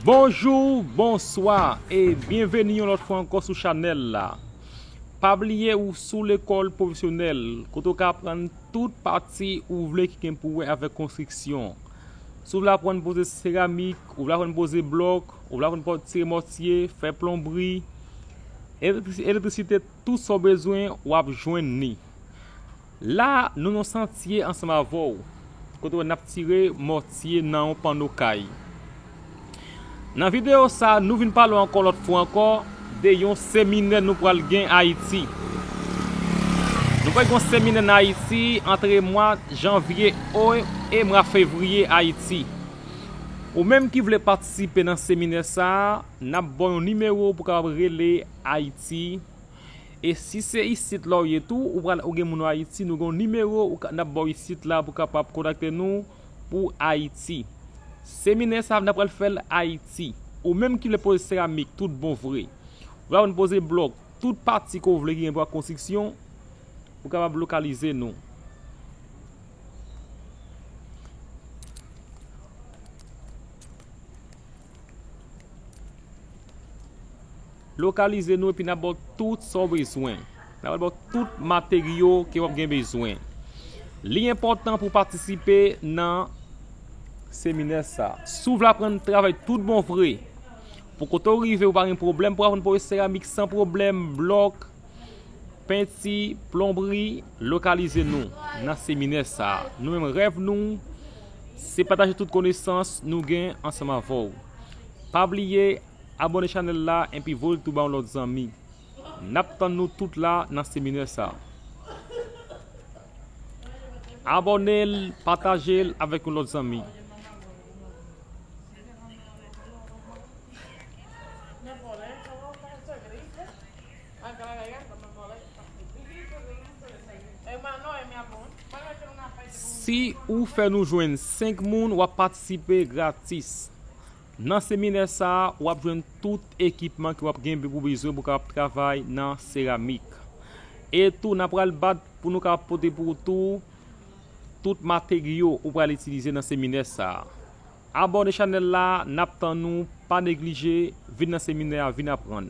Bonjou, bonswa e byenveni yon lòt fwa ankò sou chanèl la. Pa bliye ou sou lekòl pwofesyonèl kote ou ka aprann tout pati ou vle ki gen pou wè avèk konstriksyon. Si w vle aprann poze seramik, ou vle aprann poze blòk, ou vle aprann tire mòtye, fè plonbri, elektrisite tout sa w bezwen w ap jwenn li. La a, nou nan santye ansanm avè w, kote wè n ap tire mòtye nan yon panno kay. Nan videyo sa a, nou vin pale w ankò lòt fwa ankò de yon seminè nou pral gen Ayiti. Nou pral gen yon seminè nan Ayiti antre mwa janvye e mwa fevriye Ayiti. Ou menm ki vle patisipe nan seminè sa a, n ap ba w yon nimewo pou w kapab rele Ayiti E si se isit la ou ye tou, ou pral ou gen moun Ayiti, nou gen yon nimewo ou ka n ap ba w isit la pou kapab kontakte nou pou Ayiti. Seminè sa a n ap pral fè l Ayiti. Ou menm ki vle poze seramik tout bon vre, ou kapab vin poze blòk, tout pati ke w vle ki gen pou wè ak konstriksyon, ou kapab lokalize nou. Lokalize nou epi n ap ba w tout sa w bezwen. N ap ba w tout materyo ke w ap gen bezwen. Li enpòtan pou w patisipe nan seminè sa. Si w vle aprann travay tout bon vre, pou kote w rive ou pa gen pwoblèm pou aprann poze seramik san pwoblèm, blòk, Penti, plonbri, lokalize nou nan seminè sa. Nou menm rèv nou, se pataje tout konesans nou gen ansanm avè w. Pa bliye abone chanèl la enpi voye l tou ba yon lòt zanmi. N ap tann nou tout la nan seminè sa. Abone l, pataje l avèk yon lòt zanmi. Si ou fè nou jwenn 5 moun wap patisipe gratis. Nan seminè sa a wap jwenn tout ekipman ke wap gen pou bezwen pou kapab travay nan seramik. E tou nan pral bat pou nou kapab pote pou ou tou tout materyo ou pral itilize nan seminè sa a. Abòne chanèl la nap tann ou pa neglije vin nan seminè a vin aprann.